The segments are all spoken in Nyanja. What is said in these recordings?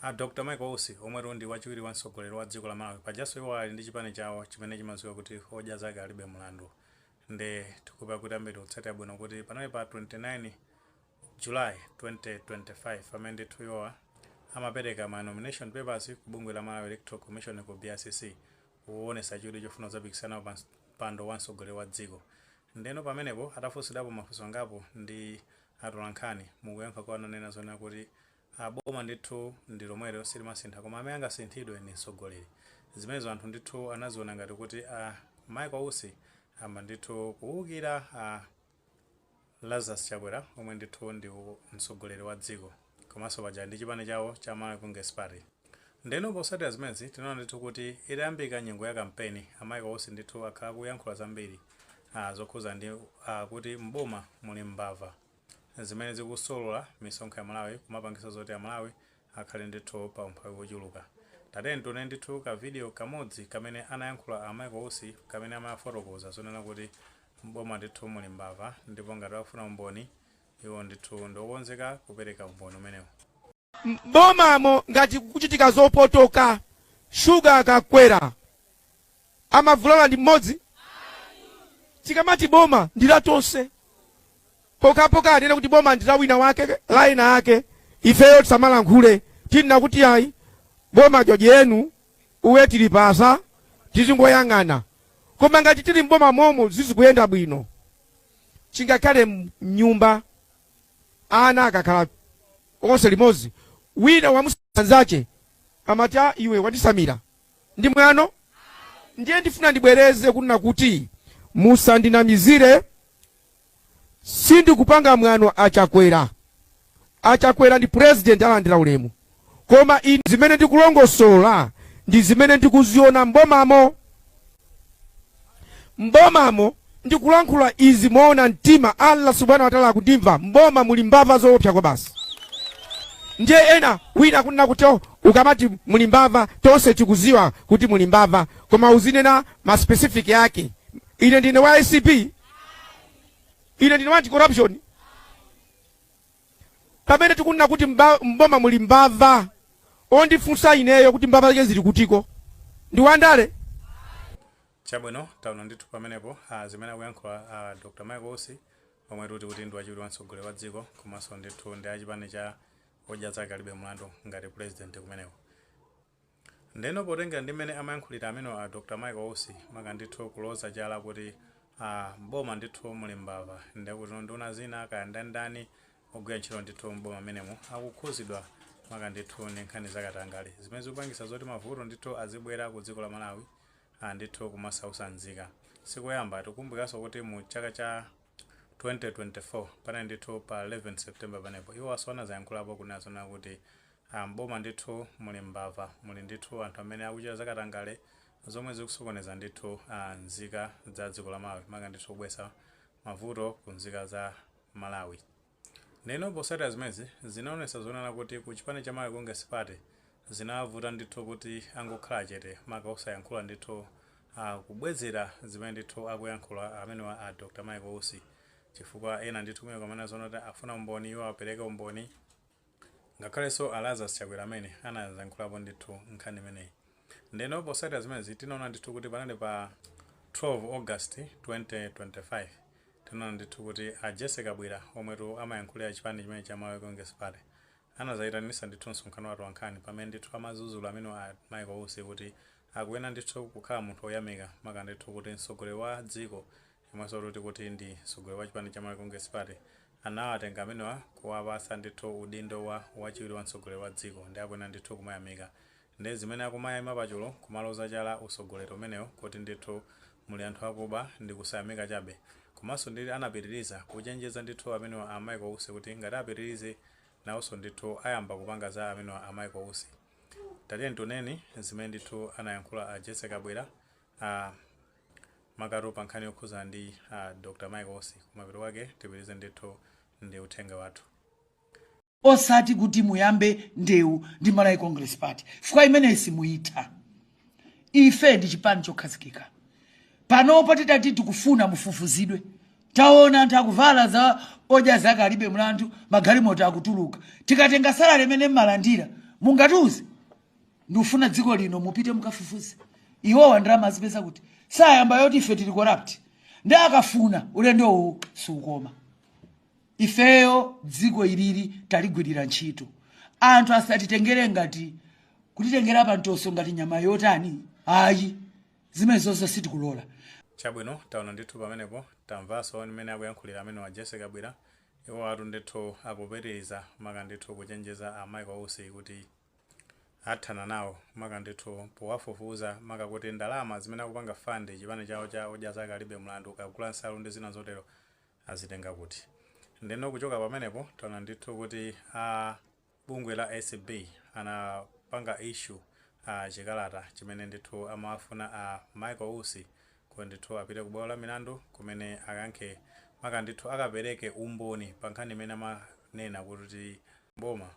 A Dr Michael Usi omwetu ndi wachiwiri wa mtsogoleri wa dziko la Malawi pajanso iwo ali ndi chipani chawo chimene chimadziwika kuti odya zake alibe mlandu nde tikukhulupirira kuti ambiri akutsatira bwino kuti panali pa 29 July 2025 pamene ndithu iwowa amapereka ma nomination papers ku bungwe la Malawi Electoral Commission ku BICC kuonesa chidwi chofuna kudzapikisana pa mpando wa mtsogoleri wa dziko ndeno pamenepo atafunsidwapo mafunso angapo ndi Atolankhani, mukuyankha kwawo ananena zonena kuti a boma ndithu ndi lomwelo silimasintha koma amene angasinthidwe ndi mtsogoleri. Zimenezo anthu ndithu anaziona ngati kuti a Michael Usi ayamba ndithu kuukira a Lazarus Chakwera omwe ndithu ndi mtsogoleri wa dziko. komanso paja ali ndi chipani chawo cha Malawi Congress Party ndeno posatira zimenezi tinaona ndithu kuti itayambika nyengo ya kampeni a Michael Usi ndithu akhala akuyankhula zambiri ah, zokhudza ndi ah, kuti m'boma muli mbava zimene zikusolola misonkho ya a Malawi kumapangisa zoti a Malawi akhale ndithu pa umphawi wochuluka tatiyeni tione ndithu ka video kamodzi kamene anayankhula a Michael Usi kamene amafotokoza zonena kuti m'boma ndithu muli mbava ndipo ngati akufuna umboni Iwo ndithu ndi okonzeka kupereka umboni umenewu. M'bomamo ngati kukuchitika zopotoka, sugar akakwera amavulala ndi mmodzi? Tikamati boma ndi la tonse. Pokhapokha atanena kuti boma ndi la wina wake, la ena ake, ifeyo tisamalankhule. Tinene kuti ayi, boma joji enu, uwe tilipasa, tizingoyang'ana. Koma ngati tili m'boma momo sizikuyenda bwino. chingakhale mnyumba ana akakhala onse limodzi wina wamuuza mnzache amati a iwe wandisamira ndi mwano ndiye ndifuna ndibwereze kunena kuti musandinamizire sindikupanga mwano a Chakwera A Chakwera ndi President alandira ulemu koma ine zimene ndikulongosola ndi zimene ndikuziona m'bomamo. M'bomamo ndikulankhula izi moona mtima, Allah Subhana wa Ta'ala akundimva. M'boma muli mbava zoopsa kwabasi. Ndiye ena wina akunena kuti oh, ukamati muli mbava tonse tikuziwa kuti muli mbava koma uzinena ma specific ake. Ine ndine wa ACP, ine ndine wa anti corruption, pamene tikunena kuti mba- mboma muli mbava ondifunsa ineyo kuti mbava zake zili kutiko ndi wandale chabwino taona ndithu pamenepo ah, zimene akuyankhula ah, dr michael usi omwe tati kuti ndi wachiwiri wa mtsogoleri wa dziko komanso ndithu ndi achipani cha odya zake alibe mlandu ngati president kumeneko Ndeno potengera ndi mmene amayankhulira amenewa a Dr Michael Usi maka ndithu kuloza chala kuti a m'boma ndithu muli mbava ndikutino nduna zina kaya ndani ndani ogwira ntchito ndithu m'boma mmenemo akukhuzidwa maka ndithu ndi nkhani za katangale zimene zikupangisa zoti mavuto ndithu azibwera ku dziko la Malawi a ndithu kumasausa nzika sikoyamba tikukumbukiraso kuti mu chaka cha 2024 panali ndithu pa 11 September panepo iwowaso anazayankhulapo kunena zonena kuti M'boma ndithu muli mbava muli ndithu anthu amene akuchita zakatangale zomwe zikusokoneza ndithu a nzika za dziko la Malawi maka ndithu kubwesa mavuto ku nzika za Malawi ndeno posatira zimenezi zinaonesa zonena kuti ku chipani cha Malawi Congress Party zinawavuta ndithu kuti angokhala chete maka osayankhula ndithu a kubwezera zimene ndithu akuyankhula amenewa a Dr Michael Usi chifukwa ena ndithu kumene amanena zonati afuna umboni iwo apereke umboni Ngakhalenso a Lazarus Chakwera amene anazayankhulapo ndithu nkhani imeneyi. Ndeno posatira zimenezi tinaona ndithu kuti panali pa 12 August 2025 tinaona ndithu kuti a Jessy Kabwila omwetu amayankhulira chipani chimenechi cha Malawi Congress Party anazaitanisa ndithu msonkhano wa atolankhani pamene ndithu amazuzula amenewa a Michael Usi kuti akuyenera ndithu kukhala munthu oyamika maka ndithu kuti mtsogoleri wa dziko yemwenso tikuti ndi mtsogoleri wa chipani cha Malawi Congress Party anawatenga amenewa kuwapatsa ndithu udindo wa wachiwiri wa mtsogoleri wa dziko nde akuyenera ndithu kumayamika nde zimene akumayaima pachulu kumaloza chala utsogoleri umenewu kuti ndithu muli anthu akuba ndi kusayamika chabe komanso ndili anapitiliza kuchenjeza ndithu amenewa a Michael Usi kuti ngati apitilize nawonso ndithu ayamba kupanga za amenewa a Michael Usi tatiyeni tioneni zimene ndithu anayankhula a Jessy Kabwila makatu pa nkhani yokhuza ndi a Dr Michael Usi kumapeto kwake tipitilize ndithu ndi uthenga wathu. osati kuti muyambe ndewu ndi Malawi Congress Party chifukwa imeneyi simuyitha ife ndi chipani chokhazikika panopo titati tikufuna mufufuzidwe taona anthu akuvala za Odya Zake Alibe Mlandu magalimoto akutuluka tikatenga salary imene mmalandira mungatiuze ndikufuna dziko lino mupite mukafufuze iwowa ndalama azipeza kuti asayambe yoti ife tili corrupt nde akafuna ulendo uwu siukoma ifeyo dziko ilili taligwirira ntchito anthu asatitengere ngati kutitengera pantoso ngati nyama yotani ayi zimenezozo sitikulola chabwino taona ndithu pamenepo tamvanso mmene akuyankhulira amenewa Jessy Kabwila iwowatu ndithu akupitiriza maka ndithu kuchenjeza a Michael Usi kuti athana nawo maka ndithu powafufuza maka kuti ndalama zimene akupanga fund chipani chawo cha Odya Zake Alibe Mlandu kagula nsalu ndi zina zotero azitenga kuti? Ndeno kuchoka pamenepo taona ndithu kuti a bungwe la acb anapanga issue a chikalata chimene ndithu amawafuna a Michael Usi kuti ndithu apite ku bwalo la milandu kumene akayankhe maka ndithu akapereke umboni pa nkhani imene amanena kuti boma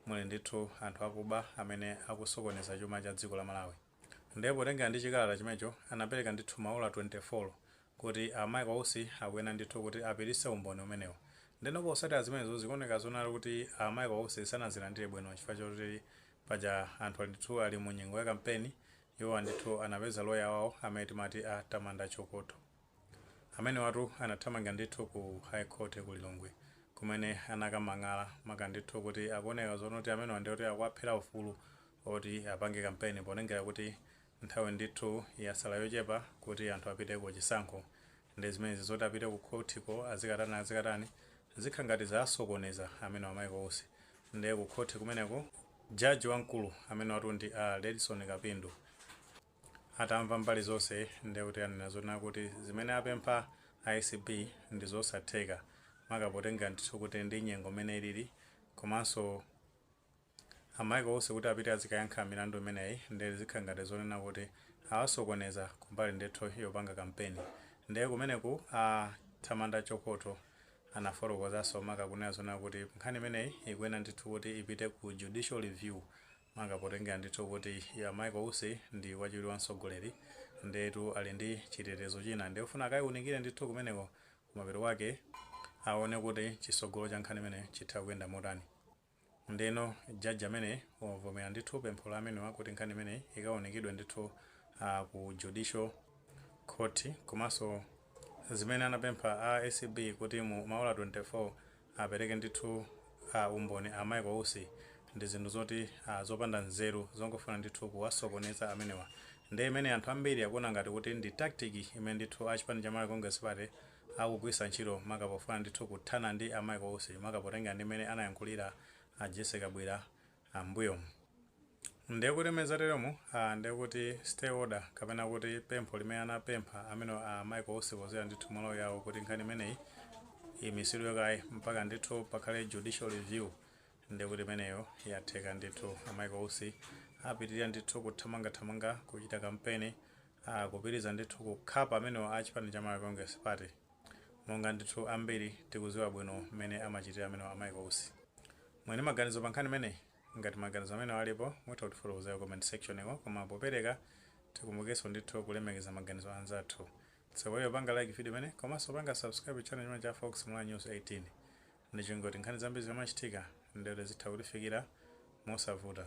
Muli ndithu anthu akuba amene akusokoneza chuma cha dziko la Malawi. Nde potengera ndi chikalata chimenecho anapereka ndithu maola 24 kuti a Mike Usi akuyena ndithu kuti apitise umboni umenewu. Ndeno posatira zimenezo zikuoneka zonena kuti a Mike Usi sanazilandire bwino chifukwa choti paja anthu ndithu ali mu nyengo ya kampeni iwowa ndithu anapeza loya wawo amene timati a Tamando Chokotho. Amenewatu anathamanga ndithu ku High Court ya ku Lilongwe kumene anakadandaula maka ndithu kuti akuoneka zonena kuti amenewa ndi oti akuwaphera ufulu oti apange kampeni potengera kuti nthawi ndithu yasala yochepa kuti anthu apite ku chisankho nde zimenezi zoti apite ku court ko azikatani azikatani zikhala ngati zasokoneza amenewa Michael Usi nde ku court kumeneko judge wamkulu amenewatu ndi a Redson Kapindu Atamva mbali zonse ndiye kuti anena zonena kuti zimene apempha a acb ndi zosatheka maka potengera ndithu kuti ndi nyengo mmene ilili komanso a Michael Usi kuti apite azikayankha milandu imeneyi ndiye zikhala ngati zonena kuti awasokoneza kumbali ndithu yopanga kampeni ndiye kumeneku a Tamando Chokotho anafotokozanso maka kunena zonena kuti nkhani imeneyi ikuyenera ndithu kuti ipite ku judicial review maka potengera ndithu kuti a Michael Usi ndi wachiwiri wa mtsogoleri ndetu ali ndi chitetezo china nde kufuna akaiunikire ndithu kumeneko kumapeto kwake aone kuti chitsogolo cha nkhani imene chitha kuyenda motani ndeno jaji amene wavomera ndithu pempho la amenewa kuti nkhani imene ikaunikidwe ndithu uh, ku judicial court komanso zimene anapempha a acb kuti mu maola 24 apereke ndithu a umboni a Michael Usi ndi zinthu zoti a zopanda nzeru zongofuna ndithu kuwasokoneza amenewa nde imene anthu ambiri akuona ngati kuti ndi tactic imene ndithu a chipani cha Malawi Congress Party akugwirisa ntchito maka pofuna ndithu kuthana ndi a Michael Usi maka potengera ndi mmene anayankhulira a Jessy Kabwila a m'mbuyomu. Ndiye kuti mmene zateromu, a, ndiye kuti stay order kapena kuti pempho limene anapempha amenewo a Michael Usi kudzera ndithu mwa loya wawo kuti nkhani imeneyi imisidwe kaye mpaka ndithu pakhale judicial review ndiye kuti imeneyo yatheka ndithu. A Michael Usi apitirira ndithu kuthamangathamanga kuchita kampeni, a, kupitiriza ndithu kukhapa amenewo a chipani cha Malawi Congress Party. Monga ndithu ambiri tikuziwa bwino mmene amachitira amenewa a Michael Usi. Muli ndi maganizo pa nkhani imeneyi? Ngati maganizo amenewo alipo mutha kutifotokozera ku comment section ko, koma popereka tikumbukeso ndithu kulemekeza maganizo a anzathu. Tsogoleri panga like video imeneyi komaso panga subscribe channel chimene cha Fox Malawi News 18. Ndichingoti nkhani zambiri zikamachitika ndere zitha kutifikira mosavuta.